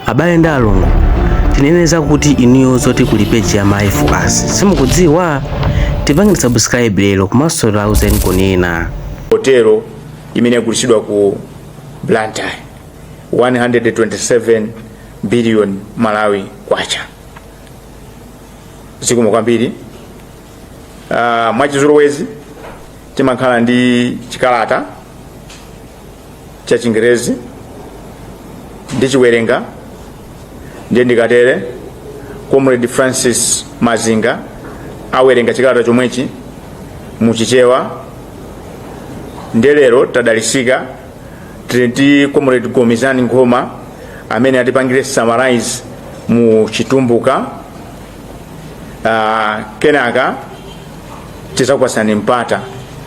abale ndi alongo tinene zakuti inuyo zoti kuli peji ya mayi focus simukudziwa tipangeni subscribe lero komanso lauzeni kunena hotelo imene yagulitsidwa ku blantyre 127 billion malawi kwacha zikomo kwambiri uh, mwachizolowezi timakhala ndi chikalata cha chingerezi ndichiwerenga ndiye ndikatere comrade francis mazinga awerenga chikalata chomwechi muchichewa ndiye lero tadalisika tili ndi comrade gomizani nkhoma amene atipangire summarize mu chitumbuka uh, kenaka tizakupatsani mpata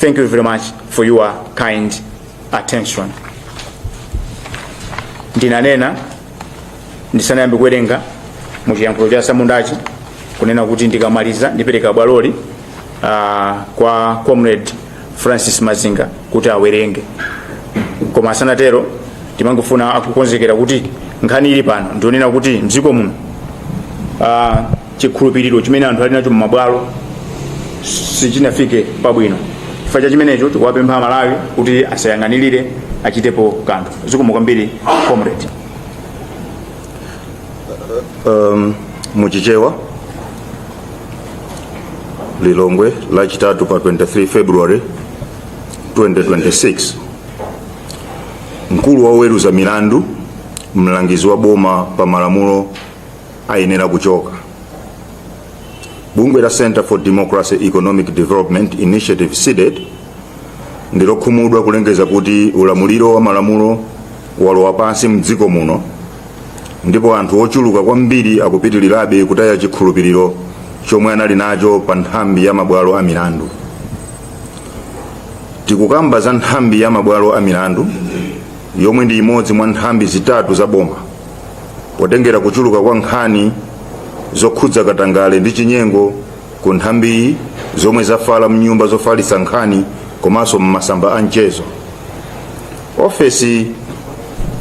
Thank you very much for your kind attention. Ndinanena ndisanayambe kuwerenga mu chiyankhulo cha samundachi kunena kuti ndikamaliza ndipereka bwaloli uh, kwa comrade Francis Mazinga kuti awerenge. Koma asanatero ndimangofuna akukonzekera kuti nkhani ili pano ndi yonena kuti mdziko muno uh, chikhulupiriro chimene anthu ali nacho m'mabwalo sichinafike pabwino chifukwa cha chimenecho tikuwapempha amalawi kuti asayang'anirire achitepo kanthu zikomo kwambiri comrade um, muchichewa lilongwe lachitatu pa 23 february 2026 mkulu wa oweruza milandu mlangizi wa boma pa malamulo ayenera kuchoka bungwe la center for democracy economic development initiative cdedi ndilokhumudwa kulengeza kuti ulamuliro wa malamulo walowa pansi mdziko muno ndipo anthu ochuluka kwambiri akupitirirabe kutaya chikhulupiriro chomwe anali nacho pa nthambi ya mabwalo a milandu tikukamba za nthambi ya mabwalo a milandu yomwe ndi imodzi mwa nthambi zitatu za boma potengera kuchuluka kwa nkhani zokhudza katangale ndi chinyengo ku nthambiyi zomwe zafala mnyumba zofalitsa nkhani komanso m'masamba a mchezo ofesi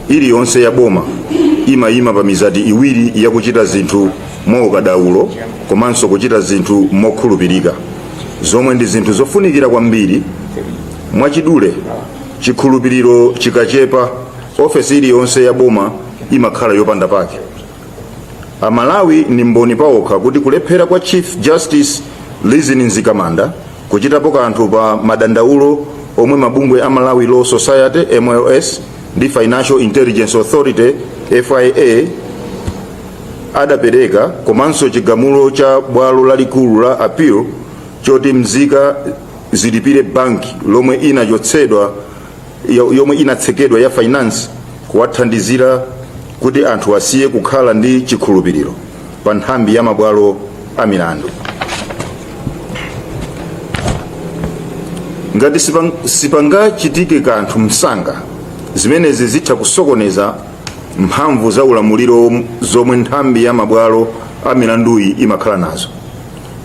iliyonse ya boma imayima pa mizati iwiri yakuchita zinthu mwaukadaulo komanso kuchita zinthu mokhulupirika zomwe ndi zinthu zofunikira kwambiri mwachidule chikhulupiriro chikachepa ofesi iliyonse ya boma imakhala yopanda phindu amalawi ndi mboni paokha kuti kulephera kwa chief justice rizine mzikamanda kuchitapo kanthu pa madandaulo omwe mabungwe a malawi law society mls ndi financial intelligence authority fia adapereka komanso chigamulo cha bwalo lalikulu la appeal choti mzika zilipire banki lomwe inachotsedwa yo- yomwe inatsekedwa ya finance kwathandizira kuti anthu asiye kukhala ndi chikhulupiriro pa nthambi ya mabwalo a milandu ngati sipa- sipangachitike kanthu msanga zimenezi zitha kusokoneza mphamvu za ulamuliro zomwe nthambi ya mabwalo a milanduyi imakhala nazo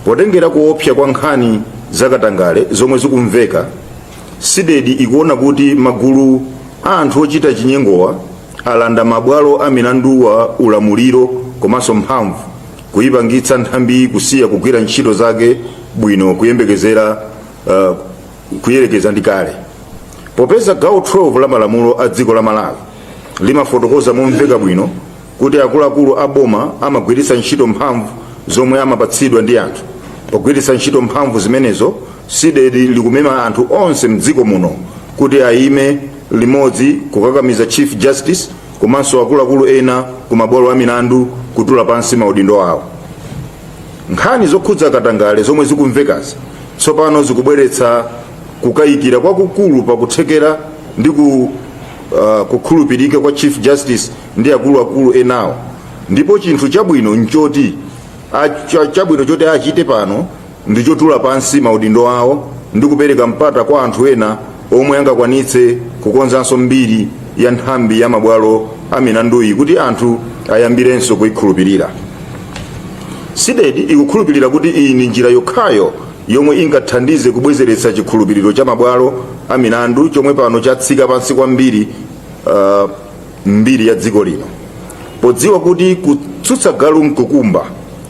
potengera kuopsa kwa nkhani zakatangale zomwe zikumveka Cdedi ikuona kuti magulu a anthu ochita chinyengowa alanda mabwalo a milanduwa ulamuliro komanso mphamvu, kuipangitsa nthambiyi kusiya kugwira ntchito zake bwino kuyembekezera uh, kuyerekeza ndi kale. Popeza gawo 12 la malamulo a dziko la Malawi limafotokoza momveka bwino kuti akuluakulu a boma amagwiritsa ntchito mphamvu zomwe amapatsidwa ndi anthu pogwiritsa ntchito mphamvu zimenezo cdedi likumema anthu onse mdziko muno kuti ayime limodzi kukakamiza chief justice komanso akuluakulu ena ku mabwalo a milandu kutula pansi maudindo awo nkhani zokhudza katangale zomwe zikumvekazi tsopano zikubweretsa kukayikira kwakukulu pakuthekera ndi ku, uh, kukhulupirika kwa chief justice ndi akuluakulu enawo ndipo chinthu chabwino nchoti a- cha- chabwino choti achite pano ndi chotula pansi maudindo awo ndi kupereka mpata kwa anthu ena omwe angakwanitse kukonzanso mbiri ya nthambi ya mabwalo a milanduyi kuti anthu ayambirenso kuyikhulupirira cdedi ikukhulupirira kuti iyi ndi njira yokhayo yomwe ingathandize kubwezeretsa chikhulupiriro cha mabwalo a milandu chomwe pano chatsika pansi kwambiri uh, m'mbiri ya dziko lino podziwa kuti kutsutsa galu mkukumba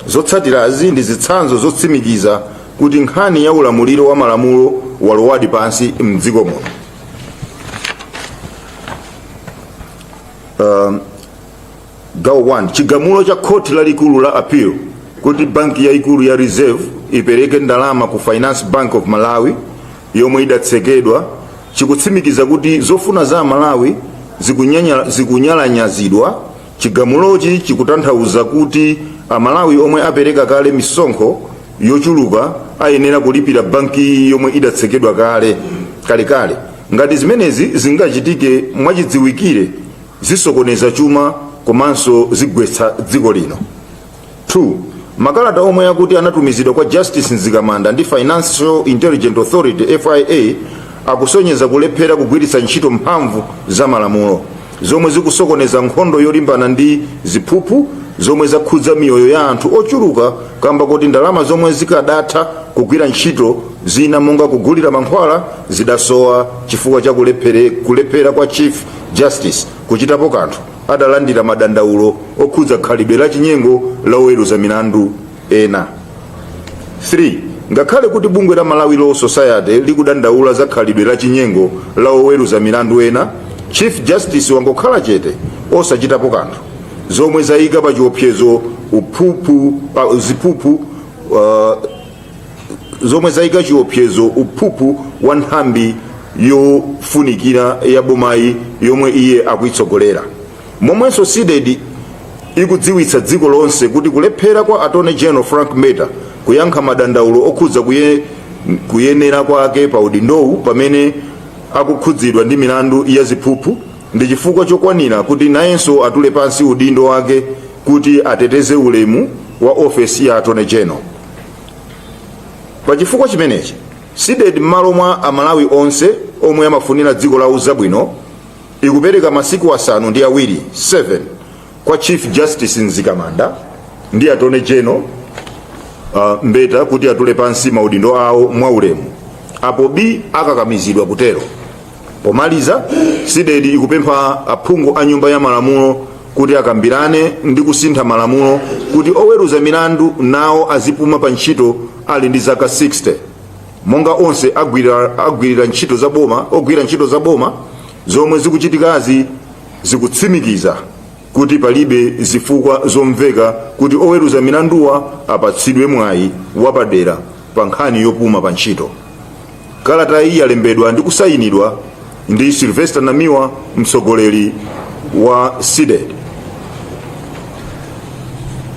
zotsatirazi ndi zitsanzo zotsimikiza kuti nkhani ya ulamuliro wa malamulo walowadi pansi mdziko muno um, gawo 1 chigamulo cha khoti lalikulu la appeal kuti banki yaikulu ya reserve ipereke ndalama ku finance bank of malawi yomwe idatsekedwa chikutsimikiza kuti zofuna za Amalawi zikunyalanyazidwa. Chigamulochi chikutanthauza kuti Amalawi omwe apereka kale misonkho yochuluka ayenera kulipira bankiyi yomwe idatsekedwa kale kalekale. Ngati zimenezi zingachitike mwachidziwikire, zisokoneza chuma komanso zigwetsa dziko lino. 2 makalata omwe akuti anatumizidwa kwa justice mzikamanda ndi financial intelligent authority fia akusonyeza kulephera kugwiritsa ntchito mphamvu za malamulo zomwe zikusokoneza nkhondo yolimbana ndi ziphuphu zomwe zakhudza miyoyo ya anthu ochuluka kamba koti ndalama zomwe zikadatha kugwira ntchito zina monga kugulira mankhwala zidasowa chifukwa cha kulephere- kulephera kwa chief justice kuchitapo kanthu adalandira madandaulo okhudza khalidwe la chinyengo la oweruza milandu ena 3 ngakhale kuti bungwe la malawi law society likudandaula za khalidwe la chinyengo la oweruza milandu ena chief justice wangokhala chete osachitapo kanthu zomwe zayika pa chiopsezo umphumphu pa ziphuphu uh, zomwe zayika chiopsezo umphumphu wa nthambi yofunikira ya bomayi yomwe iye akuitsogolera momwenso cdedi ikudziwitsa dziko lonse kuti kulephera kwa attorney general frank mbeta kuyankha madandaulo okhudza kuye, kuyenera kwake pa udindowu pamene akukhudzidwa ndi milandu ya ziphuphu ndi chifukwa chokwanira kuti nayenso atule pansi udindo wake kuti ateteze ulemu wa ofesi ya attorney general pa chifukwa chimenechi cdedi m'malo mwa amalawi onse omwe amafunira dziko lawo zabwino ikupereka masiku asanu ndi awiri 7 kwa chief justice mzikamanda ndi attorney general uh, mbeta kuti atule pansi maudindo awo mwaulemu apo bii akakamizidwa kutero Pomaliza, Cdedi ikupempha aphungu a Nyumba ya Malamulo kuti akambirane ndi kusintha malamulo kuti oweruza milandu nawo azipuma pa ntchito ali ndi zaka 60 monga onse agwira, agwirira ntchito za boma ogwira ntchito za boma zomwe zikuchitikazi zikutsimikiza kuti palibe zifukwa zomveka kuti oweruza milanduwa apatsidwe mwayi wapadera pa nkhani yopuma pa ntchito kalata iyi yalembedwa ndi kusayinidwa ndi sylvester namiwa mtsogoleri wa cdedi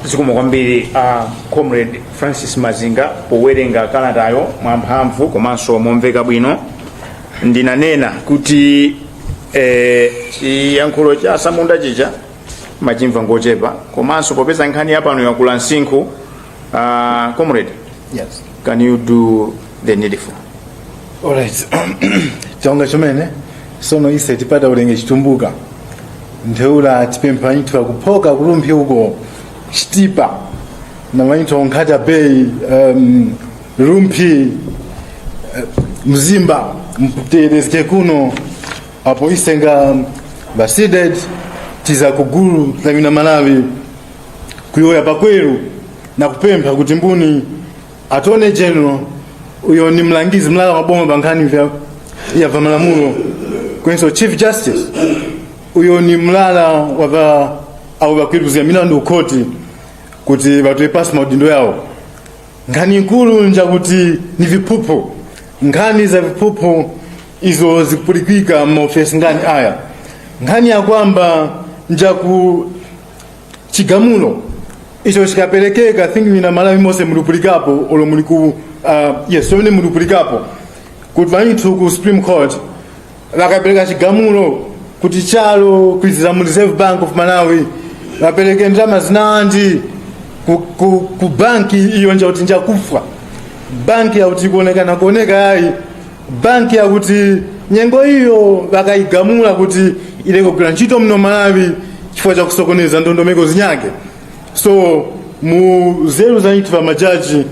zikomo kwambiri a comrade francis mazinga powerenga kalatayo mwamphamvu komanso momveka bwino ndinanena kuti eh, chiyankhulo cha atsamunda chija amachimva ngochepa komanso popeza nkhani yapano yakula msinkhu Uh, comrade, Yes. can you do the needful? Alright. Chonga chomene sono ise tipata ulenge chitumbuka. Ntheula tipempha nyithu akuphoka kulumphi uko chitipa. Na manyithu onkhata bay um, lumphi eh, mzimba mtereske kuno apo ise nga basided tiza kugulu lamina malawi kuyoya pakweru na kupempha kuti mbuni attorney general uyo ni mlangizi mlala maboma pa nkhani vya ya va malamulo kwenso chief justice uyo ni mlala wa va abo bakwirikuzira milandu ukhoti kuti batoye pasi maudindo yawo nkhani nkulu njakuti ni viphuphu nkhani za viphuphu izo zikupulikika m'maofesi ngani aya nkhani ya kwamba njaku chigamulo icho chikaperekeka thinking na malawi monse mulipulikapo olo muli ku uh, yes pamene mulipulikapo kuti pamene ku supreme court vakapereka chigamulo kuti chalo kuizira mu reserve bank of malawi vapereke ndalama zinandi ku, ku, ku banki iyo nja kuti njakufwa banki yakuti kuonekana kuoneka yayi banki yakuti nyengo iyo bakayigamula kuti ileke kugwira ntchito muno malawi chifukwa cha kusokoneza ndondomeko zinyake so mu zeru za nthu pamajaji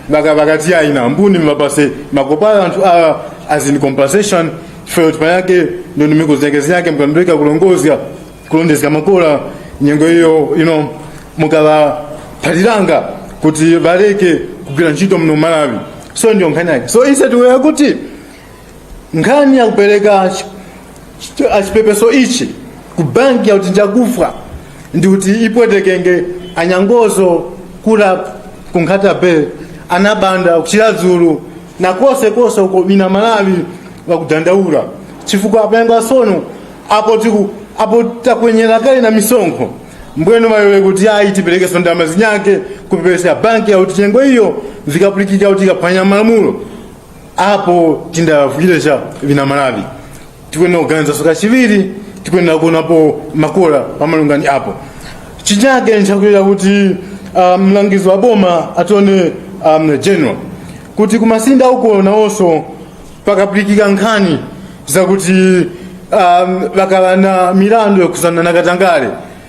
baka bakati ayi na mbuni mapase makopala anthu awa as in compensation chifukwa kuti panyake ndondomeko zinyake zinyake mkandireka kulongozya kulondezga makola nyengo iyo ino mukavaphaliranga kuti valeke kugwira ntchito mno malawi so ndiyo nkhani yake so instead we akuti nkhani yakupereka chi- chi- achipepeso ichi ku banki yakuti njakufa ndi kuti ipwetekenge anyangozo kula kunkhata be anabanda kuchira dzulu na konse konse uko bina malawi bakudandaula chifukwa apenga sono apo tiku apo takwenyera kale na misonkho mbwenu mayowe kuti ayi tipereke sondama zinyake kupepesa banki auti chengo iyo zikapulikika kuti ikaphwanya malamulo apo tindavukiresha bina malawi tikuyenera kuganizanso kachiwiri tikuyenera kuonapo makora pamalungani apo chinyake nchakuyenera kuti uh, mlangizi wa boma atone um, general kuti kumasinda uko nawonso pakapulikika nkhani zakuti um, bakala na milandu yokhuzana na katangale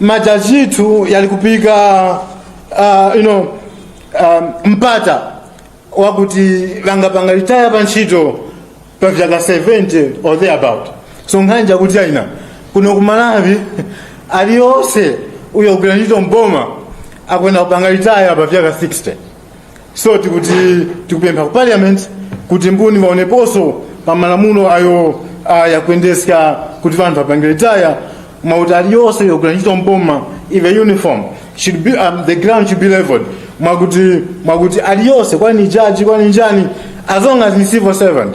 majajitu yalikupika uh, you know, um, mpata wakuti vangapanga litaya pa ntchito pa vyaka 70 or thereabout so nkhanja kuti aina kuno ku malawi aliyonse uyo kugwira ntchito mboma akwenda kupanga litaya pa vyaka 60 so tikuti tikupempha ku parliament kuti mbuni vaoneponso pa malamulo ayo ayakuendesa kuti vanthu apange retire mauti aliyonse yogwira ntchito mboma ive uniform should be, um, the ground should be leveled mwakuti mwakuti aliyonse kwani jaji kwani njani as long as ni civil servant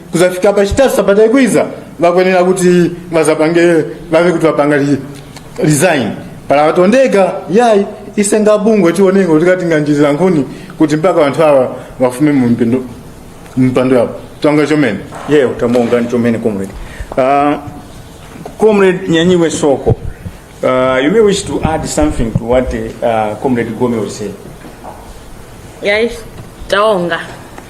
kuzafika pa chitatu sabata ikwiza vakuyenera kuti vazapange vave kuti vapanga li- resign pala vatondeka yayi ise nga bungwe tionenga kuti katinganjirira nkhuni kuti mpaka vanthu awa vafume mu mpando- mpando yawo tonga chomene yeo tamuungani chomene comrade uh, comrade nyanyiwe soko uh, you may wish to add something to what uh, comrade gome was saying yayi taonga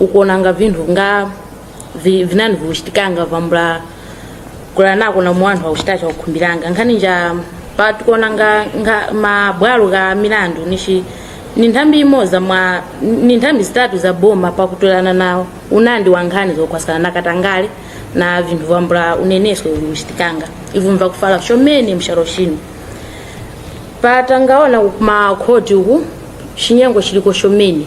ukuona nga vinthu nga vi- vinani vikuchitikanga vambula kula nako na muwanthu akuchitacha kukhumbiranga nkhani nja pa tikuona nga, nga mabwalo ka milandu nishi ni nthambi imodzi mwa ni nthambi zitatu za boma pakutolana nawo unandi wa nkhani zokhwasana na katangale na vinthu vambula uneneso vikuchitikanga ivo mvakufala chomene mshalo chino patangaona makhoti uku chinyengo chiliko chomene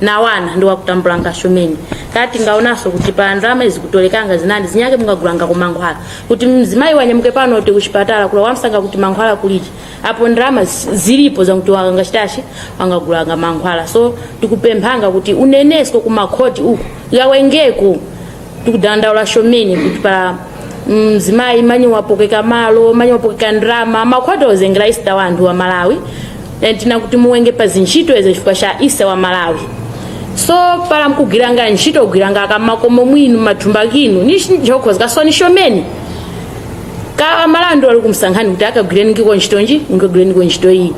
nawana ndi wakutambulanga shumeni kati ngaonanso kuti pa ndalama izi kutolekanga zinandi zinyake mungagulanga ku mankhwala kuti mzimayi wanyamuke pano kuti kuchipatala kula wamsanga kuti mankhwala kuliti apo ndalama zi- zilipo zakuti wakanga chitachi wangagulanga mankhwala so tikupemphanga kuti unenesko ku makhoti uku yawengeko tikudandaula shomeni kuti pa mzimayi manyi wapokeka malo manyi wapokeka ndrama makhwati ozengera isita wa anthu wa malawi and tina kuti muwenge pa zintchito izo chifukwa cha isita wa malawi so pala mkugwiranga ntchito kugwiranga akamakomo mwinu mathumba kinu ni njokhwa zikasoni shomeni ka amalawi ndi wali kumsankhani kuti akagwireniko ntchito nji ngagwireniko ntchito iyi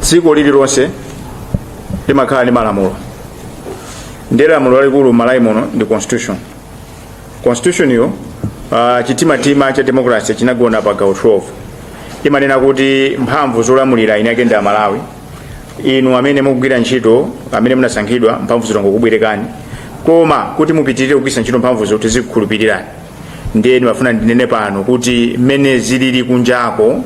dziko lililonse limakhala ndi malamulo ndi lamulo lalikulu m'malawi muno ndi constitution constitutionyo uh, chitimatima cha democracy chinagona pa gawo 12 imanena kuti mphamvu zolamulira eni ake ndi amalawi inu amene mukugwira ntchito amene munasankhidwa mphamvuzi tangokubwerekani koma kuti mupitirire kugwiritsa ntchito mphamvuzo tizikukhulupirirani ndiye ndimafuna ndinene pano kuti mmene zilili kunjako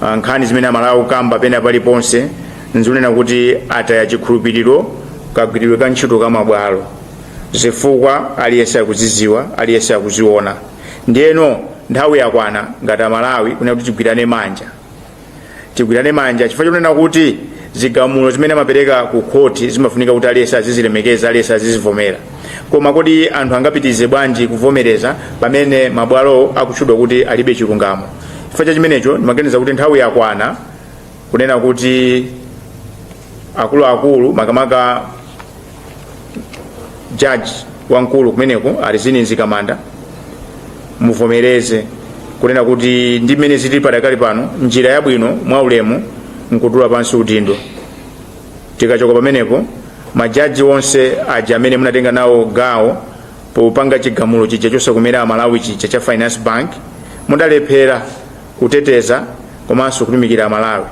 ah, nkhani zimene amalawi akukamba pena paliponse nzonena kuti ataya chikhulupiriro kagwiridwe ka ntchito ka mabwalo zifukwa aliyense akuziziwa aliyense akuziona ndiyeno nthawi yakwana ngati amalawi kunena kuti tigwirane manja tigwirane manja chifukwa chonena kuti zigamulo zimene amapereka ku khoti zimafunika kuti aliyense azizilemekeza aliyense azizivomera koma kodi anthu angapitirize bwanji kuvomereza pamene mabwalo akutchedwa kuti alibe chilungamo chifukwa cha chimenecho ndimaganiza kuti nthawi yakwana kunena kuti akuluakulu makamaka jaji wamkulu kumeneko a Rizine Mzikamanda muvomereze kunena kuti ndi mmene zili padakali pano njira yabwino mwa ulemu nkutula pansi udindo tikachoka pamenepo majaji onse aja amene munatenga nawo gawo popanga chigamulo chija chosakomera amalawi chija cha finance bank mwalephera kuteteza komanso kutumikira amalawi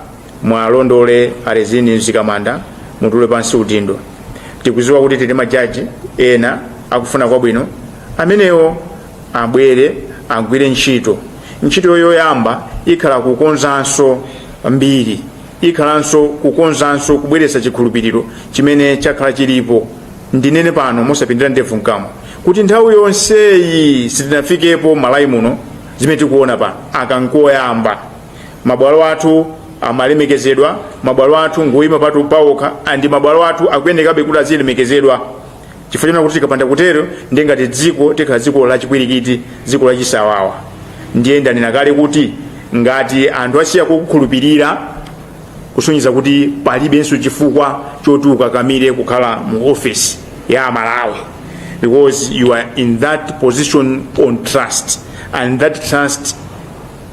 mwalondole a Rizine Mzikamanda mutule pansi udindo tikudziwa kuti tili ndi majaji ena akufuna kwabwino amenewo abwere agwire ntchito ntchito yoyamba ikhala kukonzanso mbiri ikhalanso kukonzanso kubweretsa chikhulupiriro chimene chakhala chilipo ndinene pano mosapindira ndevu mkamwa kuti nthawi yonseyi sitinafikepo mMalawi muno zimene tikuona pano aka nkoyamba mabwalo athu amalemekezedwa mabwalo athu ngoyima patu pawokha and mabwalo athu akuyenekabe kuti azilemekezedwa chifukwa chonena kuti tikapanda kutero ndiye ngati dziko tikhala dziko lachipwirikiti dziko lachisawawa ndiye ndanena kale kuti ngati anthu asiya kukukhulupirira kusonyeza kuti palibenso chifukwa choti ukakamire kukhala mu office ya amalawi because you are in that position on trust and that trust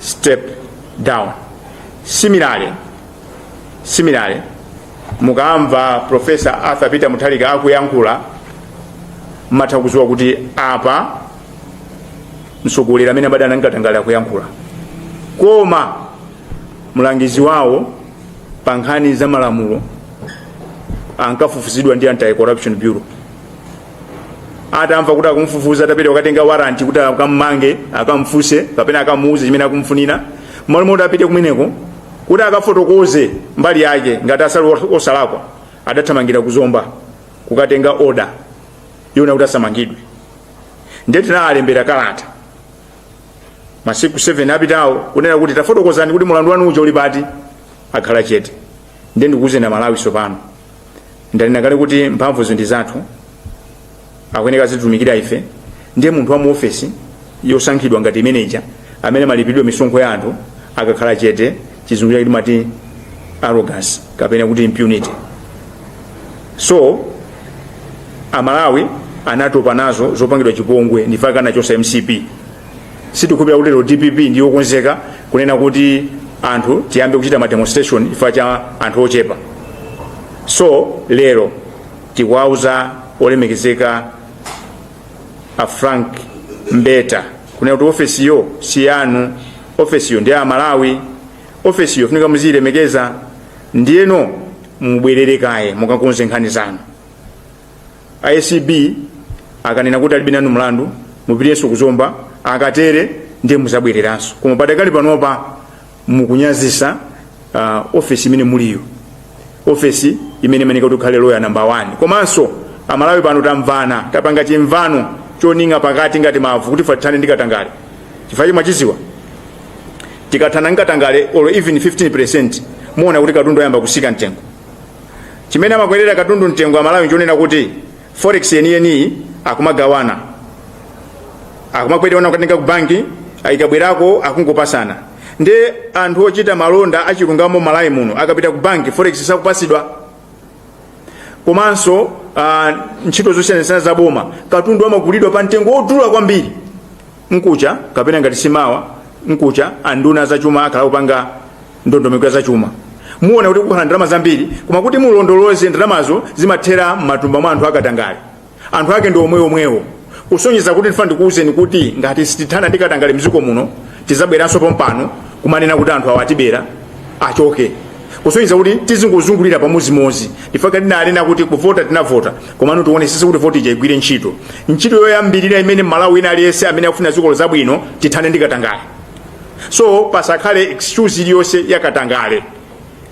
step down similarly similarly mukamva professor arthur peter mutharika akuyankhula mmatha kudziwa kuti apa mtsogoleri amene abada ananga Tangale akuyankhula koma mlangizi wawo pa nkhani za malamulo ankafufuzidwa ndi anti corruption bureau atamva kuti akumfufuza atapita kukatenga waranti kuti akammange akamfunse kapena akamuuze chimene akumfunira mmalo moti apite kumeneko kuti akafotokoze mbali yake ngati ali osalakwa adathamangira ku zomba kukatenga oda yonena kuti asamangidwe ndiye tinawalembera kalata masiku 7 apitawo kunena kuti tafotokozani kuti mulandu wanu uja uli pati akhala chete ndiye ndikuuzeni amalawi tsopano ndanena kale kuti mphamvuzi ndi zathu akuyeneka azititumikira ife ndiye munthu wa mu ofesi yosankhidwa ngati imeneja amene amalipiridwa misonkho ya anthu akakhala chete chizungu chake timati arrogance kapena kuti impunity so amalawi anatopa nazo zopangidwa chipongwe ndi chifukwa anachotsa mcp sitikukhulupirira kuti lero dpp ndiyokonzeka kunena kuti anthu tiyambe kuchita ma demonstration chifukwa cha anthu ochepa so lero tikuwauza olemekezeka a frank mbeta kunena kuti ofesiyo si yanu ofesiyo ndi ya amalawi ofesiyo funika muziyilemekeza ndiyeno mubwerere kaye mukakonze nkhani zanu a acb akanena kuti alibe nanu mlandu mupitenso ku zomba akatere ndiye muzabwereranso koma padakali panopa mukunyazisa uh, ofesi imene muliyo ofesi imene imafunika kuti ukhale loya namba 1 komanso amalawi pano tamvana tapanga chimvano chomanga pakati ngati mavu kuti tithane ndi katangale chifukwa chimachitika tikathana ndi katangale or even 15 percent muona kuti katundu ayamba kusika mtengo chimene amakwerera katundu mtengo amalawi nchonena kuti forex yeniyeniyi akumagawana akumakwerera kutenga ku banki ikabwerako akungopasana ndi anthu ochita malonda achilungamo malawi muno akapita ku banki forex sakupatsidwa komanso uh, ntchito zosiyanasiyana za boma katundu amagulidwa pa mtengo wodula kwambiri mkucha kapena ngati simawa mkucha anduna zachuma akhala akupanga ndondomeko ya zachuma muona kuti kukhale ndalama zambiri koma kuti mulondoloze ndalamazo zimathera m'matumba mwa anthu akatangale anthu ake ndi omweomwewo kusonyeza kuti ndifuna ndikuwuzeni kuti ngati sitithana ndi katangale mdziko muno tizabweranso pompano kumanena kuti anthu awa atibera achoke kusonyeza kuti tizingozungulira pamodzimodzi nchifukwa tinanena kuti kuvota tinavota komano tionesese kuti voti ija igwire ntchito ntchito yoyambirira imene mmalawi wina aliyense amene akufuna dziko zabwino tithane ndi katangale so pasakhale excuse iliyonse yakatangale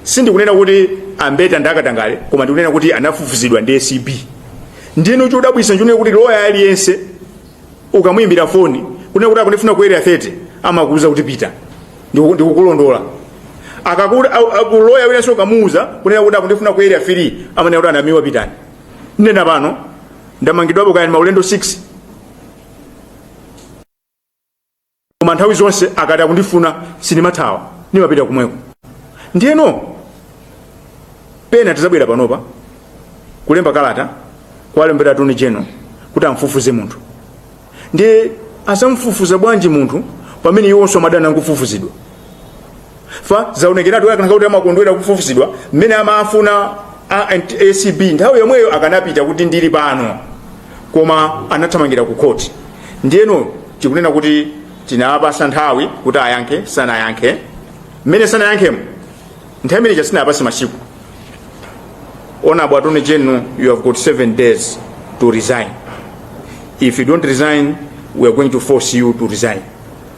sindikunena kuti ambeta ndi akatangale koma ndikunena kuti anafufuzidwa ndi acb ndiyeno chodabwitsa nchonena kuti loya aliyense ukamuyimbira foni kunena kuti akundifuna ku area 30 amakuuza kuti pita ndiku- ndikukulondola kapena loya winanso ukamuuza kunena kuti akundifuna ku area 3 amanena kuti anamiwa pitani nena pano ndamangidwapo kaya ndi maulendo 6 koma nthawi zonse akati akundifuna sindimathawa ndimapita kumweko ndiyeno pena tizabwera panopa kulemba kalata kuwalembera attorney general kuti amfufuze munthu ndiye azamfufuza bwanji munthu pamene iwonso amadana nkufufuzidwa fa zaonekeratu akanakhala kuti amakondwera kufufuzidwa mmene amafuna a- and- acb nthawi yomweyo akanapita kuti ndili pano koma anathamangira ku khoti ndiyeno chikunena kuti tinapasa nthawi kuti ayankhe sanayankhe mmene sanayankhemo nthawi imene sitinapase masiku honorable attorney general you have got seven days to resign if you don't resign we are going to force you to resign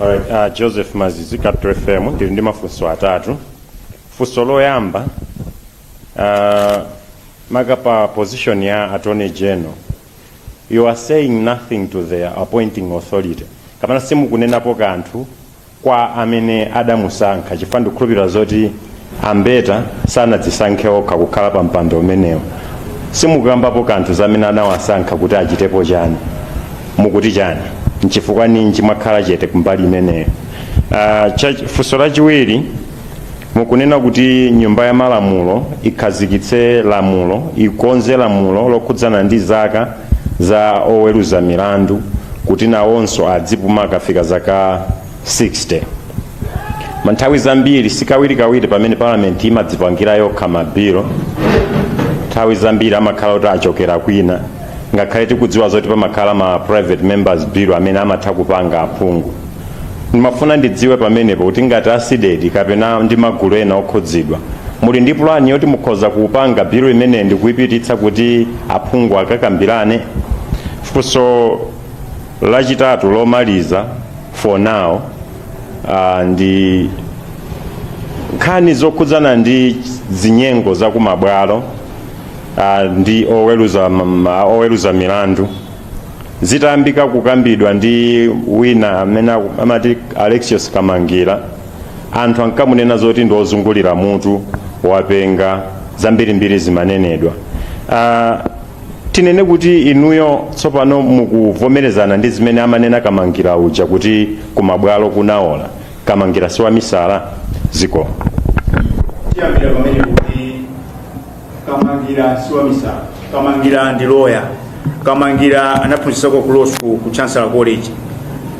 Alright, uh, Joseph Mazizi Capital FM ndili ndi mafunso atatu funso loyamba uh, maka pa position ya attorney general you are saying nothing to the appointing authority kapena simukunenapo kanthu kwa amene adamusankha chifukwa ndikukhulupirira zoti a Mbeta sanadzisankhe okha kukhala pa mpando umenewo simukukambapo kanthu zamene anawasankha kuti achitepo chani mukuti chani nchifukwa ninji mwakhala chete kumbali imeneyo uh, funso lachiwiri mukunena kuti nyumba ya malamulo ikhazikitse lamulo ikonze lamulo lokhudzana ndi zaka za oweruza milandu kuti nawonso adzipuma akafika zaka 60 koma nthawi zambiri sikawirikawiri pamene palamenti imadzipangira yokha mabilo nthawi zambiri amakhala kuti achokera kwina ngakhale tikudziwa zoti pamakhala ma private members bill amene amatha kupanga aphungu ndimafuna ndidziwe pamenepo kuti ngati a CDEDI kapena ndi magulu ena okhudzidwa muli ndi pulani yoti mukhoza kupanga bilu imeneyi ndikuipititsa kuti aphungu akakambirane funso lachitatu lomaliza for now uh, ndi nkhani zokhudzana ndi zinyengo zakumabwalo uh, ndi oweruza, oweruza milandu zitayambika kukambidwa ndi wina amene aku- amati alexious kamangira anthu ankamunena zoti ndi ozungulira mutu wapenga zambirimbiri zimanenedwa Ah, tinene kuti inuyo tsopano mukuvomerezana ndi zimene amanena kamangira uja kuti kumabwalo kunaola kamangira siwamisala ziko tiyambira pamenepo kuti kamangira si wamisala kamangira ndi loya kamangira anaphunzitsako ku law school ku chancellor college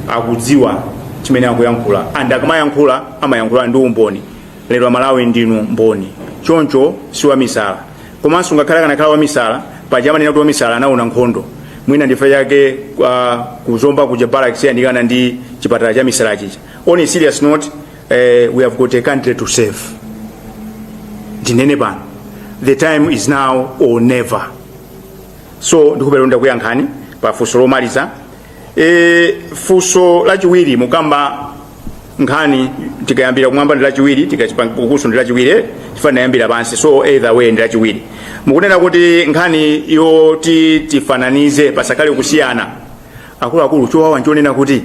akudziwa chimene akuyankhula and akamayankhula amayankhula ndi umboni lero amalawi ndinu mboni choncho si wamisala komanso ngakhale akanakhala wamisala paja amanena kuti wamisala anaona nkhondo mwina nchifukwa chake uh, kuzomba kuja barracks yandikana ndi chipatala cha misala chija On a serious note, uh, we have got a country to serve. Ndinene pano. The time is now or never. So ndikuyankhani pa funso lomaliza. E, funso lachiwiri mukukamba nkhani tikayambira kumwamba ndi lachiwiri tikachipangukuso ndi lachiwiri eh, chifukwa ndinayambira pansi so either way ndi lachiwiri mukunena kuti nkhani yoti tifananize pasakhale kusiyana akuluakulu chowawa n'chonena kuti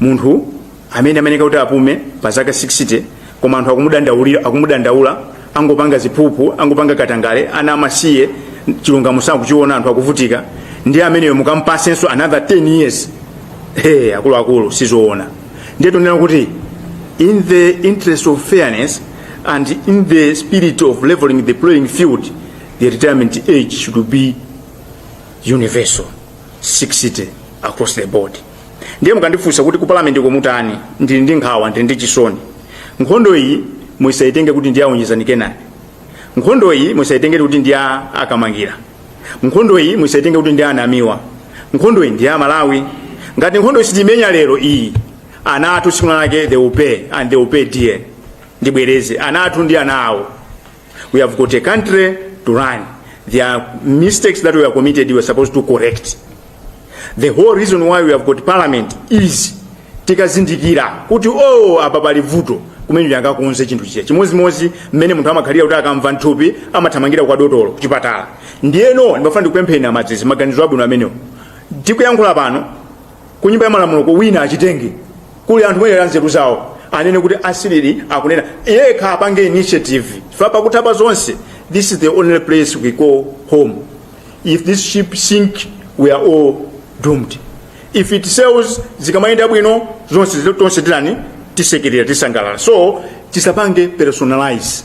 munthu amene amayenera kuti apume pa zaka 60 koma anthu akumudandaulira akumudandaula angopanga ziphuphu angopanga katangale ana amasiye chilungamo sakuchiona anthu akuvutika ndiye ameneyo mukampatsenso another 10 years hey, akuluakulu sizoona ndiye tikunena kuti in the interest of fairness and in the spirit of leveling the playing field the retirement age should be universal 60 across the board ndiye mukandifunsa kuti ku parliament ko mukatani ndili ndi nkhawa ndili ndi chisoni nkhondo iyi musaitenge kuti ndi a Onjezani Kenani nkhondo iyi musaitenge kuti ndi a- a Kamangira nkhondo iyi musaitenge kuti ndi a Namiwa nkhondo iyi ndi ya Amalawi ngati nkhondo iyi sitimenya lero iyi ana athu tsiku lake they will pay and they will pay dear ndibwereze ana athu ndi ana awo We have got a country to run. There are mistakes that were committed we are supposed to correct. The whole reason why we have got parliament is tikazindikira kuti oh apa pali vuto kumene liangakonze chinthu chija chimodzimodzi mmene munthu amakhalira kuti akamva nthupi amathamangira kwa dotolo kuchipatala ndiyeno ndimafuna ndikupempheni aMalawi maganizo abwino amenewo tikuyankhula pano kunyumba ya malamuloko wina achitenge kuli anthu mwayezera nzeru zawo anene kuti achite ali akunena yekha apange initiative chifukwa pakutha pa zonse this is the only place we call home if this ship sink we are all doomed if it sails zikamayenda bwino zonse zile- tonse titani tisekerera tisangalala so tisapange personalize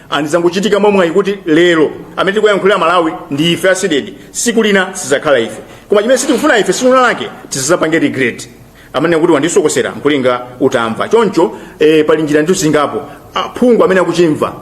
and zangochitika mwamwayi kuti lero amene tikuyankhulira malawi ndi ife zedi tsiku lina sizakhala ife koma chimene sitikufuna ife tsiku lina lake tizizapange regret anene kuti wandisokosera n'kulinga utamva choncho eh, pali njira ndithu zingapo aphungu amene akuchimva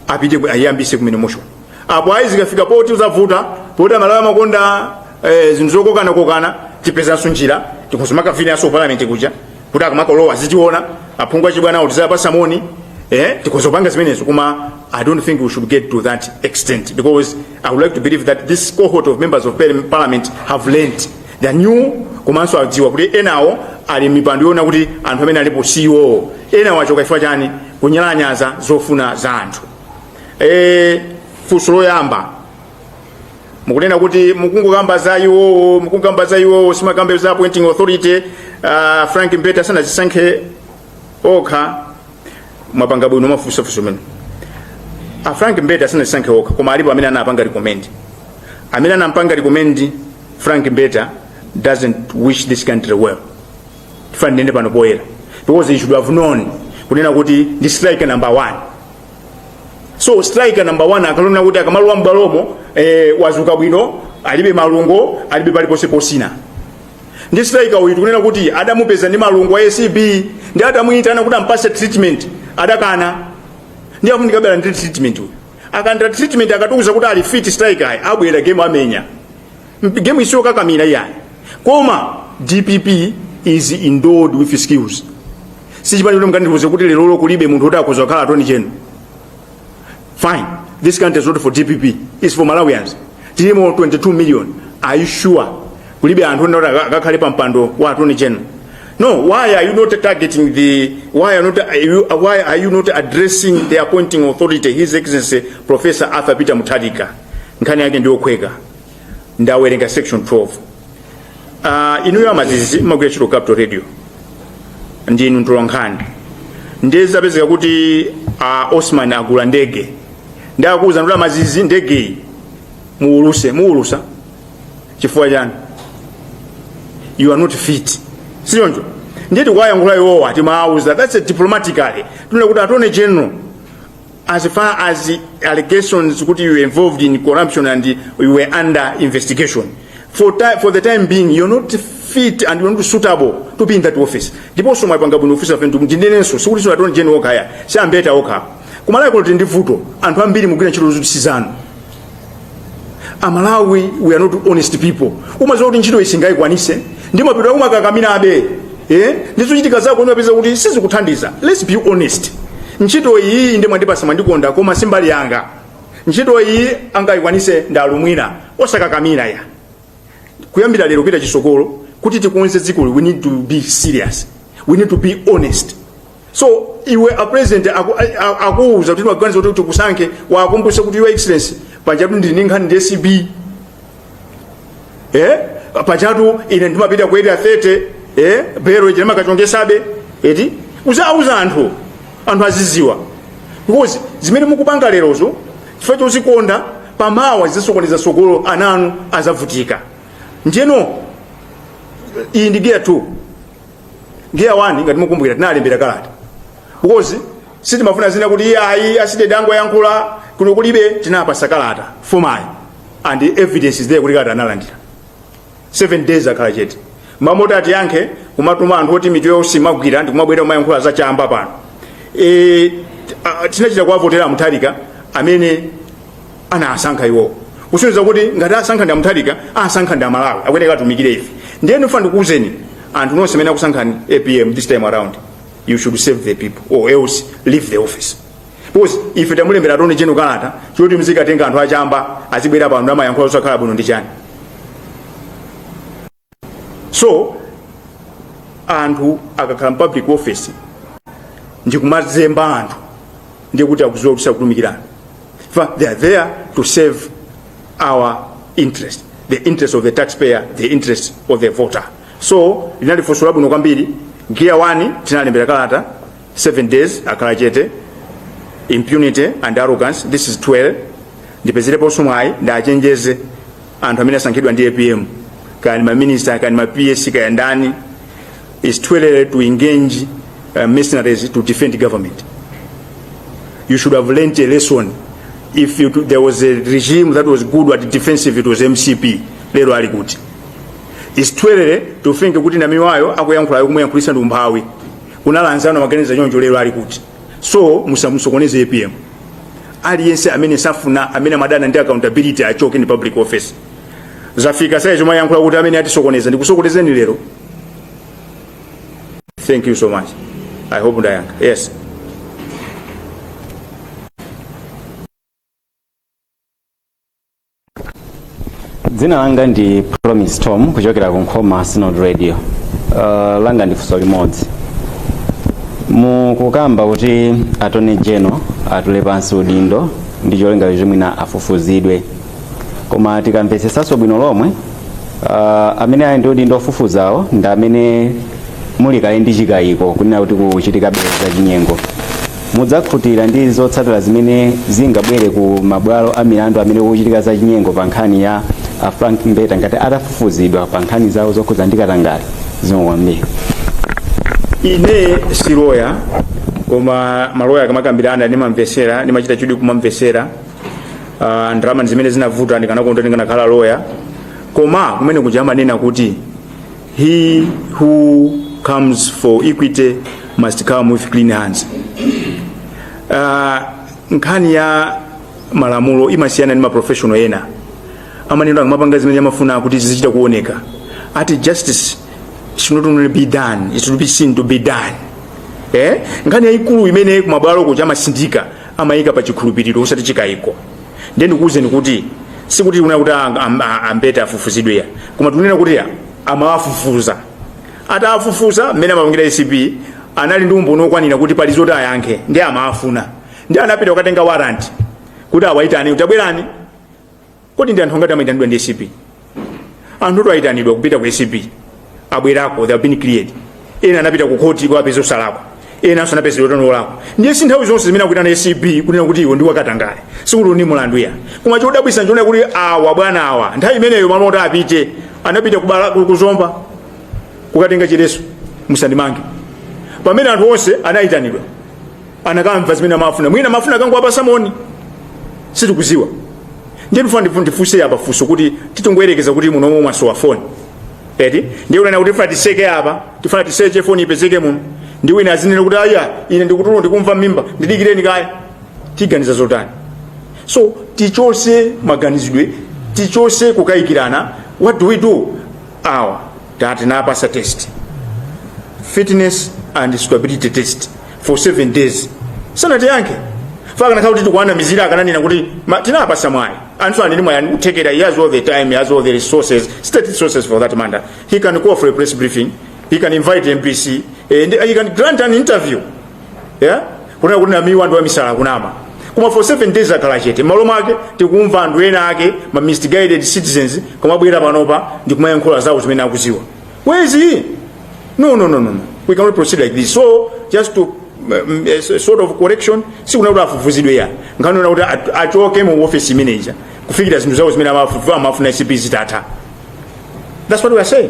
apite ku- ayiyambise kumene motion apo ayi zikafika poti uzavuta poti amalawi amakonda eh, zinthu zokokanakokana tipezanso njira tikapanga vigil ku parliament kuja kuti akamakalowa azichiona aphungu achibwana awo tizawapatsa moni eh tikhoza kupanga zimenezo koma i don't think we should get to that extent because i would like to believe that this cohort of members of parli- parliament have learned they are new komanso adziwa kuti enawo ali pamipando aona kuti anthu amene alipo siwo enawo achoka chifukwa chani kunyalanyaza zofuna za anthu eh funso loyamba mukunena kuti mukungokamba za iwowo mukungamba za iwowo simukukamba za appointing authority uh, frank mbete asanazisankhe okha mwapanga bwino kufunsa funso limeneli a frank mbete asanazisankhe okha koma alipo amene anapanga recommend amene anapanga recommend frank mbete doesn't wish this country well ndiyenera ndinene pano poyera because he should have known kunena kuti ndi striker number one so striker number one akaona kuti akamalowa m'bwalomo eh, wadzuka bwino alibe malungo alibe paliponse potsina ndi striker uyu tikunena kuti adamupeza ndi malungo a acb ndi adamuyitana kuti ampase treatment adakana ndiye akufunikabe treatment uyu akalandira treatment akatiuza kuti ali fit striker ayi abwera game amenya game siyokakamira iyayi koma dpp is endowed with skills sichipani choti mukandiuze kuti lero lolo kulibe munthu kuti akhoza kukhala attorney general fine this country is not for dpp is for malawians tilimo 22 million are you sure kulibe anthu ena kuti aka- akakhale pa mpando wa attorney general no why are you not targeting the why are, not, are you, why are you not addressing the appointing authority his excellency professor arthur peter mutharika nkhani yake ndiyokhweka ndawerenga section 12 uh, ah, inuyo a mazizi mmagwira ntchito capital radio ndinu mtolankhani ndiye zapezeka kuti uh, osman agula ndege ndi akuwuzani kuti a mazizi ndegeyi muwuluse muwulusa chifukwa chani you are not fit sichoncho ndiye tikuwayankhula iwowa tikuwawuza that's a diplomatically tinene kuti attorney general as far as allegations kuti you were involved in corruption and you were under investigation for, ti- for the time being you're not fit and you're not suitable to be in that office ndiponso mwapanga bwino office a phiri ndinenenso sikuti si attorney general okha ayi si a mbeta okha kumalawi kuno tili ndi vuto anthu ambiri mukugwira ntchito zoti sizanu amalawi we are not honest people umadziwa kuti ntchito iyi sindingayikwanitse ndipo umakakamirabe eh? ndi zochitika zako umapeza kuti sizikuthandiza let's be honest ntchito iyi ndi mwandipatsa mwandikonda koma si mbali yanga ntchito iyi angayikwanitse ndi alumwina osakakamira ya kuyambira lero kupita chitsogolo kuti tikonze dzikoli we need to be serious we need to be honest so iwe a president aku- a- a- akuwuza kuti tili ndi maganizo kuti tikusankhe uwakumbutse kuti your excellency pajatu ndili ndi nkhani ndi acb eh pajatu ine ndimapita ku area 30 eh bero ije makachongesabe eti udzauza anthu anthu azidziwa because zimene mukupanga lerozo chifukwa chodzikonda pamawa zidzasokoneza tsogolo ana anu adzavutika njeno iyi ndi gear 2 ndiye awani ngati mukumbukira tinalembera kalata because sitimafuna zina kuti iyeyo aside tangoyankhula kuno kulibe tinapasa kalata formally and evidence is there kuti kalata analandira 7 days akhala chete mmalo moti atiyankhe kumatuma anthu oti mitu yonse imagwira ndi kumabwera kumayankhula za chamba pano e, a- tinachita kuwavotera mutharika amene anasankha iwowo kusonyeza kuti ngati asankha ndi amuthalika asankha ndi amalawi akuyeneka atumikire ife ndiye ndifuna ndikuwuzeni anthu nonse amene anakusankhani apm this time around you should serve the people or else leave the office because ife tamulembera attorney general kalata choti mzikatenga anthu achamba azibwera pano amayankhula osakhala bwino ndi chani so anthu akakhala mu public office ndikumazemba anthu ndiye kuti akudziwa kuti sakutumikiranso ife they are there to serve our interest the interest of the taxpayer the interest of the voter so linali funso labwino kwambiri gear 1 tinalembera kalata 7 days akhala chete impunity and arrogance this is 2 ndipezereponso mwayi ndichenjeze anthu amene asankhidwa ndi apm kaya ndi maminista kaya ndi ma ps kaya ndani is too late to engage uh, mercenaries to defend government you should have learnt a lesson if you, there was a regime that was good at defensive it was mcp lero ali kuti is too late to think kuti namiwayo akuyankhulayo kumuyankhulisa ndi umphawi kuna anzawo anaganiza choncho lero ali kuti so musamusokoneze apm aliyense amene safuna amene amadana ndi accountability achoke mu public office zafika size yomayankhula kuti amene atisokoneza ndimusokoneza lero thank you so much i hope ndayankha yes dzina langa ndi promise tom kuchokera ku nkhoma synod radio uh, langa ndi funso limodzi mukukamba kuti attorney general atule pansi udindo ndi cholinga kuti mwina afufuzidwe koma tikamvetsesanso bwino lomwe uh, amene ali ndi udindo ofufuzawo ndi amene muli kale ndi chikayiko kunena kuti kuchitikabe za chinyengo mudzakhutira ndi zotsatira zimene zingabwere ku mabwalo a milandu amene kukuchitika za chinyengo pa nkhani ya a frank mbeta ngati atafufuzidwa pa nkhani zawo zokhudza ndi katangale zikomo kwambiri ine si loya koma maloya akamakambirana ndimamvesera ndimachita chidwi kumamvesera uh, ndalama ndi zimene zinavuta ndikanakonda ndikanakhala loya koma kumene kuja amanena kuti He who comes for equity must come with clean hands. Uh, nkhani ya malamulo imasiyana ndi maprofessional ena amanena amapanga zimene amafuna kuti zizichita kuoneka kuti justice should not only be done it should be seen to be done eh? nkhani yayikulu imene kumabwalo kuja amatsindika amayika pa chikhulupiriro osati chikayiko ndiye ndikuwuzeni kuti sikuti tikunena kuti ang- am- a- a Mbeta afufuzidwe ayi koma tikunena kuti amawafufuza atawafufuza mmene amapangira ACB anali ndi umboni wokwanira kuti pali zoti ayankhe ndi amawafuna ndi anapita kukatenga warrant kuti awayitane kuti tabwerani kodi ndi anthu ongati amayitanidwa ndi ACB anthu ayitanidwa kupita ku ACB abwerako they have been cleared ena anapita ku khoti kuwapeza osalakwa enanso anawapeza kuti ndi olakwa ndiye si nthawi zonse zimene akuyitana ACB kunena kuti iwe ndi wakatangale sikuti ndi mulandu ayi koma chodabwisa n'chonena kuti awa bwana awa nthawi imeneyo malo oti apite anapita kubwalo ku- ku Zomba kukatenga chiletso musandimange pamene anthu onse anayitanidwa anakamva zimene amafuna mwina amafuna akangowapasa moni sitikudziwa ndiye ndifuna ndifu- ndifunse apa funso kuti titongoyerekeza kuti muno momwe mwasowa foni eti ndiye tinena kuti tifuna tiseke apa tifuna tiseche foni ipezeke muno ndi wina azinena kuti ayi ine ndikutuluka ndikumva mimba ndidikireni kaye tiganiza zotani so tichotse maganizidwe tichotse kukayikirana what do we do awa tati tinawapatsa test fitness and suitability test for 7 days sanatiyankhe if akanakhala kuti tikuwanamizira akananena kuti ma- tinawapatsa mwayi anthu anene mwayi ndi kuthekera he has all the time he has all the resources state resources for that matter he can call for a press briefing he can invite MBC and he can grant an interview yeah? kunena kuti Namiwa ndi wamisala akunama koma for 7 days akhala chete malo mwake tikumva anthu ena ake ma misguided citizens kumabwera panopa ndi kumayankhula zawo zimene akudziwa where is he no no no no no. we cannot proceed like this so just to um, a s- sort of correction sitikunena kuti afufuzidwe ayi nkhani yonena kuti at- achoke mu office imeneja kufikira zinthu zawo zimene amafufuza amafuna ACB zitatha that's what we are saying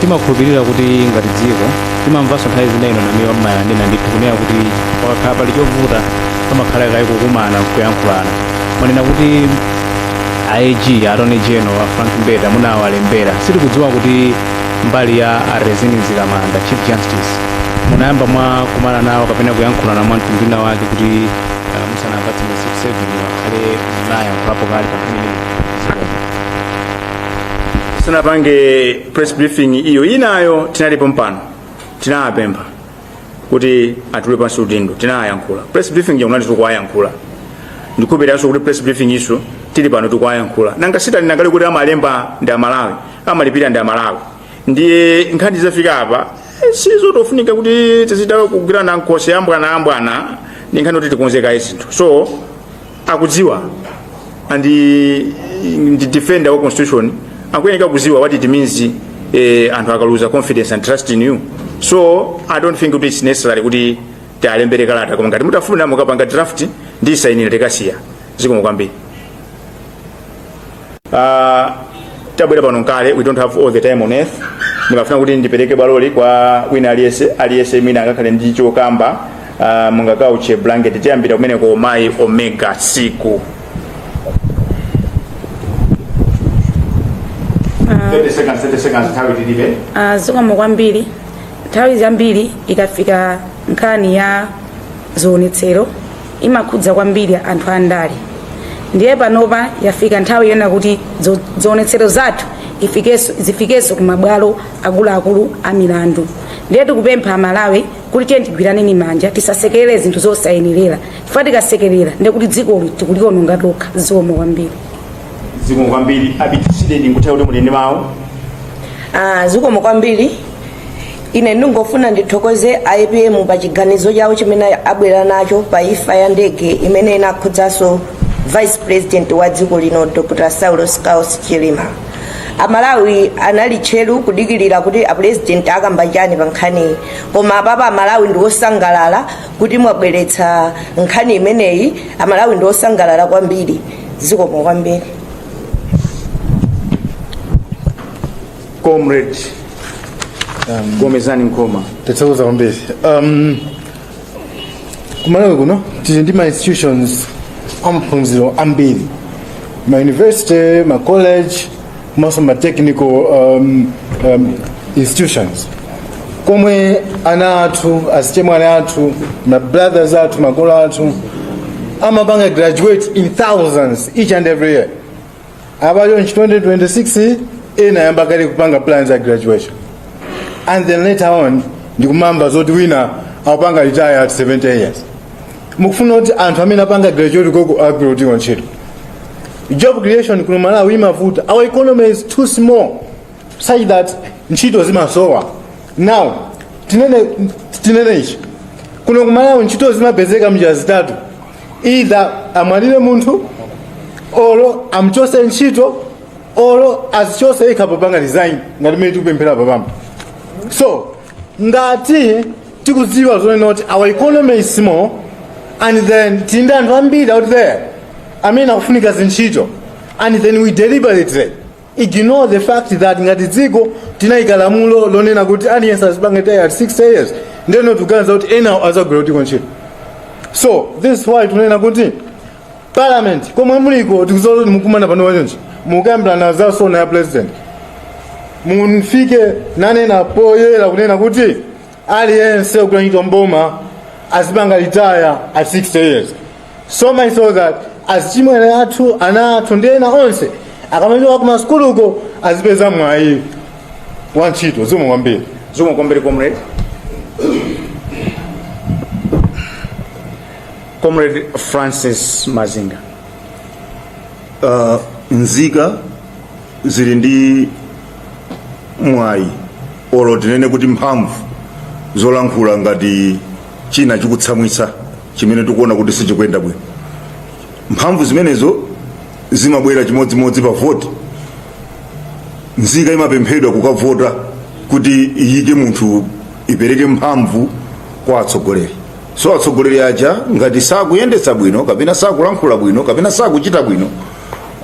timakhulupirira kuti ngati dziko timamvanso nthawi zina inu a Namiwa mumanena ndithu kunena kuti pakakhala pali chovuta pamakhala kaye kukumana kuyankhulana mwanena kuti AG Attorney General a Frank Mbeta munawalembera sitikudziwa kuti mbali ya a Rizine Mzikamanda chief justice munayamba mwakumana nawo kapena kuyankhulana mwa mtundu wina wake kuti ah, musanawapatse ma 7 days akhale munayankhulapo kale pa nkhani imeneyi sanapange press briefing iyo inayo tinali pompano tinawapempha kuti atule pansi udindo tinayankhula press briefing yakunati tikuwayankhula ndi kupereka so kuti press briefing iyinso tili pano tikuwayankhula nanga sitinanene kuti amalemba ndi amalawi amalipira ndi amalawi ndiye nkhani zafika apa eh, sizotofunika kuti tizichita kugwirana m'khosi ya bwana a bwana ndi nkhani kuti tikonze kaye zinthu so akudziwa and ndi defender wa constitution akuyenera kudziwa what it means eh, anthu akaluza confidence and trust in you so i don't think kuti it's necessary kuti tiwalembere kalata koma ngati mutafuna mukapange draft ndisainire tikasiye zikomo kwambiri Uh, tabwera pano nkale we don't have all the time on earth ndimafuna kuti ndipereke bwaloli kwa wina aliyese aliyese imene angakhale ndi chokamba uh, mungakhululuke blanket tiyambira kumeneko mayi omega siku Ah, zikomo kwambiri nthawi zambiri ikafika nkhani ya zionetsero imakhudza kwambiri anthu andale ndiye panopa yafika nthawi yonena kuti dzo- zionetsero zathu ifikenso- zifikenso ku mabwalo akuluakulu a milandu ndiye tikupempha amalawi kuti tiyeni tigwirane manja tisasekerere zinthu zosayenerera chifukwa tikasekerera ndiye kuti dzikoli tikuliononga tokha zikomo kwambiri zikomo kwambiri abiti side ndi nthawi yoti muponye mawu Ah, zikomo kwambiri ine ndingofuna ndithokoze a apm pa chiganizo chawo chimene abwera nacho pa imfa ya ndege imene inakhudzanso vice president wa dziko lino dr saulos klaus chilima amalawi anali tcheru kudikirira kuti apulezidenti akamba chani pa nkhaniyi koma apapa amalawi ndi osangalala kuti mwabweretsa nkhani imeneyi amalawi ndi osangalala kwambiri zikomo kwambiri comrade gomezani nkhoma thanks kwambiri um, kumalawi kuno tili ndi ma institutions amaphunziro ambiri ma university ma college komanso ma technical um, um, institutions komwe ana athu azichemwali athu ma brothers athu makolo athu amapanga graduate in thousands each and every year apa iyo in 2026 ena ayamba kale kupanga plans ya graduation and then later on ndikumamva zoti wina akupanga retire at 70 years mukufuna kuti anthu amene apanga graduate uko agwira kuti ntchito job creation kuno kumalawi imavuta our economy is too small such that ntchito zimasowa now tinene tinene ichi kuno kumalawi ntchito zimapezeka mnjira zitatu either amwalire munthu or amchose ntchito or azichose yekha kupanga resign ngati mmene tikupemphera panopa so ngati tikudziwa zonena kuti our economy is small and then tili ndi anthu ambiri out there amene akufuna ntchito and then we deliberately ignore the fact that ngati dziko tinayika lamulo lonena kuti aliyense azipanga retire at 60 years ndeno tikuganiza kuti enawo azagwira kutiko ntchito so this is why tunena kuti parliament komwe muliko tikudziwa kuti mukumana pano pa 20 mukambirana za sona ya president mufike ponena poyera kunena kuti aliyense ogwira ntchito mboma azipanga retire at 60 years so much so that azichimwene athu ana athu ndi ena onse akamaliza kumasukuluko azipeza mwayi wa ntchito zikomo kwambiri zikomo kwambiri comrade comrade francis mazinga uh, nzika zili ndi mwayi olo tinene kuti mphamvu zolankhula ngati china chikutitsamwitsa chimene tikuona kuti sichikuyenda bwino mphamvu zimenezo zimabwera chimodzimodzi pa voti nzika imapemphedwa kukavota kuti iyike munthu ipereke mphamvu kwa atsogoleri so atsogoleri aja ngati sakuyendetsa bwino kapena sakulankhula bwino kapena sakuchita bwino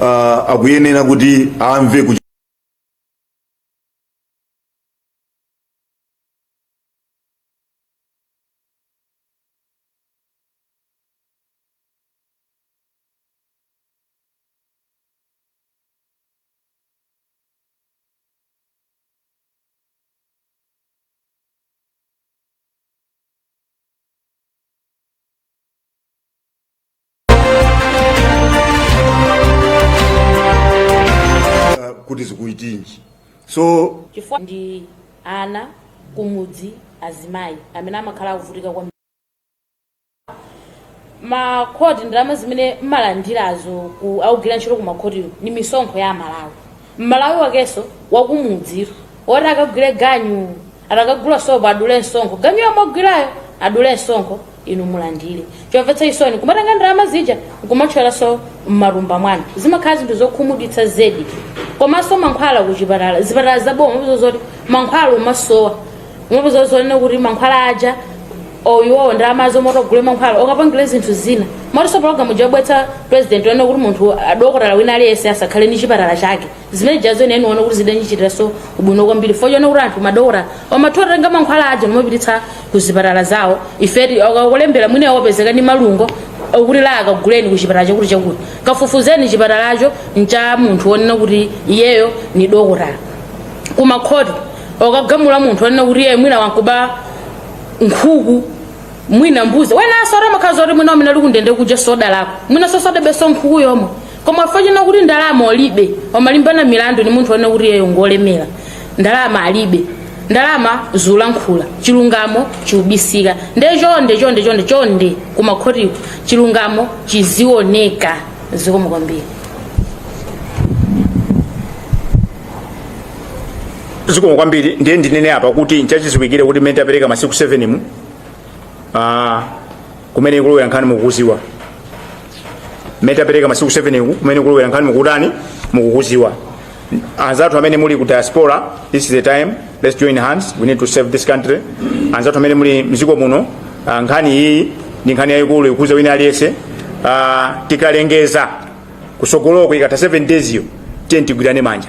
uh, akuyenera kuti amve kuch Ah, kuti zikuchitika so chifukwa ndi ana kumudzi azimayi amene amakhala akuvutika ku makhoti ndalama zimene mmalandirazo akugwira ntchito ku makhotiko ndi misonkho ya amalawi m'malawi wakenso wakumudzitu woti akagwire ganyu atakagula sopo adule msonkho ganyu yomwe agwirayo adule msonkho inu mulandire chomvetsa chisoni kumatenga ndalama zija nkumatcholanso m'matumba mwanu zimakhala zinthu zokhumudwitsa zedi komanso mankhwala kuchipatala zipatala zaboma zozoti mankhwala umasowa ndipo zozonena kuti mankhwala aja o iwowo ndalama zomwe zoti agule mankhwala akapangire zinthu zina moti pologalamu yobweretsa president yonena kuti munthu adokotala wina aliyense asakhale ndi chipatala chake zimene zijazo ine ndinaona kuti zidandichitiranso ubwino kwambiri chifukwa chonena kuti anthu madokotala amatha kutenga mankhwala aja nkumapititsa ku zipatala zawo ifeyo akakulembera mwina wopezeka ndi malungo kuti LA kaguleni ku chipatala chakuti chakuti kafufuzeni chipatalacho ncha munthu wonena kuti iyeyo ndi dokotala kumakhoti akagamula munthu wonena kuti iye mwina wakuba nkhuku mwina mbuzi wenaso ati amakhala kuti mwina amene ali kundende kuja soda lako mwina sosodebeso nkhuku yomwe koma funa china kuti ndalama olibe akamalimbana milandu ni munthu wonena kuti iyeyo ngolemera ndalama alibe ndalama zolankhula chilungamo chikubisika nde chonde chonde chonde chonde kumakhotiko chilungamo chizioneka zikomo kwambiri zikomo kwambiri ndiye ndinene apa kuti nchachiziwikire kuti mmene tapereka masiku 7 mu ah, kumene ikulowera nkhani mukuyidziwa mmene tapereka masiku 7 ku kumene ikulowera nkhani mukutani mukuyidziwa anzathu amene muli ku diaspora this is the time let's join hands we need to save this country anzathu amene muli mziko muno ah, nkhani iyi ndi nkhani yayikulu ikukhudza wina aliyense ah, tikalengeza kusogoloko ikatha 7 days yo tiyeni tigwirane manja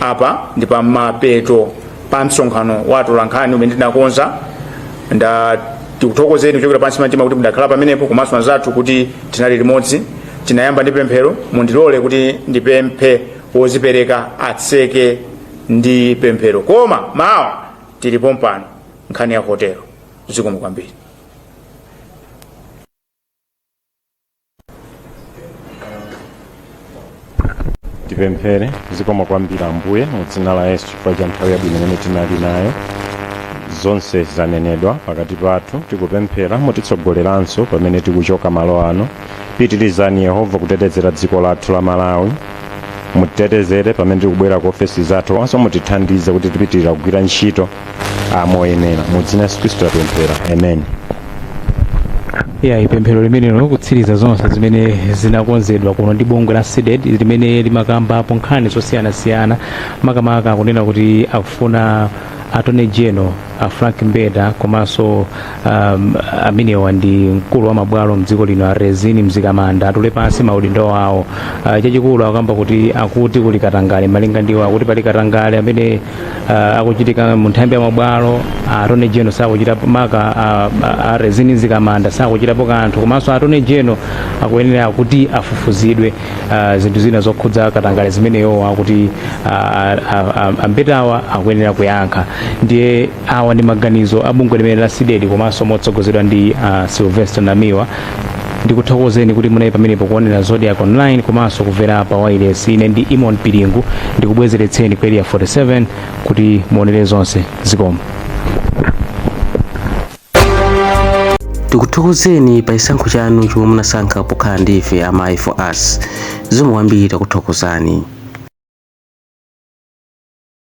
apa ndi pa mapeto pa msonkhano wa atolankhani umene tinakonza ndati ndikuthokozeni kuchokera pansi pa mtima kuti mudakhala pamenepo komanso anzathu kuti tinali limodzi tinayamba ndi pemphero mundilole kuti ndipemphe wozipereka atseke ndi pemphero koma mawa tili pompano nkhani ya hotelo zikomo kwambiri tipemphere zikomo kwambiri ambuye mu dzina la yesu chifukwa cha nthawi yabwino imene tinali nayo zonse zanenedwa pakati pathu tikupemphera mutitsogolerenso pamene tikuchoka malo ano pitirizani yehova kutetezera dziko lathu la malawi mutitetezere pamene tikubwerera ku ofesi zathu komanso mutithandize kuti tipitirire kugwira ntchito ah, moyenera mu dzina la yesu khristu tapemphera amen ya ndi pemphero limenelo kutsiriza zonse zimene zinakonzedwa kuno ndi bungwe la cdedi limene limakambapo nkhani zosiyanasiyana makamaka akunena kuti akufuna attorney general a frank mbeta komanso um, amenewa ndi mkulu wa mabwalo mdziko lino a rizine mzikamanda atule pansi maudindo awo uh, chachikulu akamba kuti akuti kuli katangale malinga ndi iwo akuti pali katangale amene uh, akuchitika mu nthambi ya mabwalo attorney general sakuchitapo maka uh, a rizine mzikamanda sakuchitapo kanthu komanso attorney general akuyenera kuti afufuzidwe uh, zinthu zina zokhudza katangale zimene iwowa akuti uh, a mbetawa akuyenera kuyankha ndiye Awa ndi maganizo a bungwe limeneli la Cdedi komanso motsogozedwa ndi a Sylvester Namiwa. Ndikuthokozeni kuti munali pamenepo kuonera Zodiak Online komanso kuvera pa wailesi. Ine ndi Eamon Piringu ndikubwezeretseni ku Area 47 kuti muonere zonse. Zikomo. tikuthokozeni pa chisankho chanu chomwe munasankha pokhala ndi ife a Mai for us zikomo kwambiri takuthokozani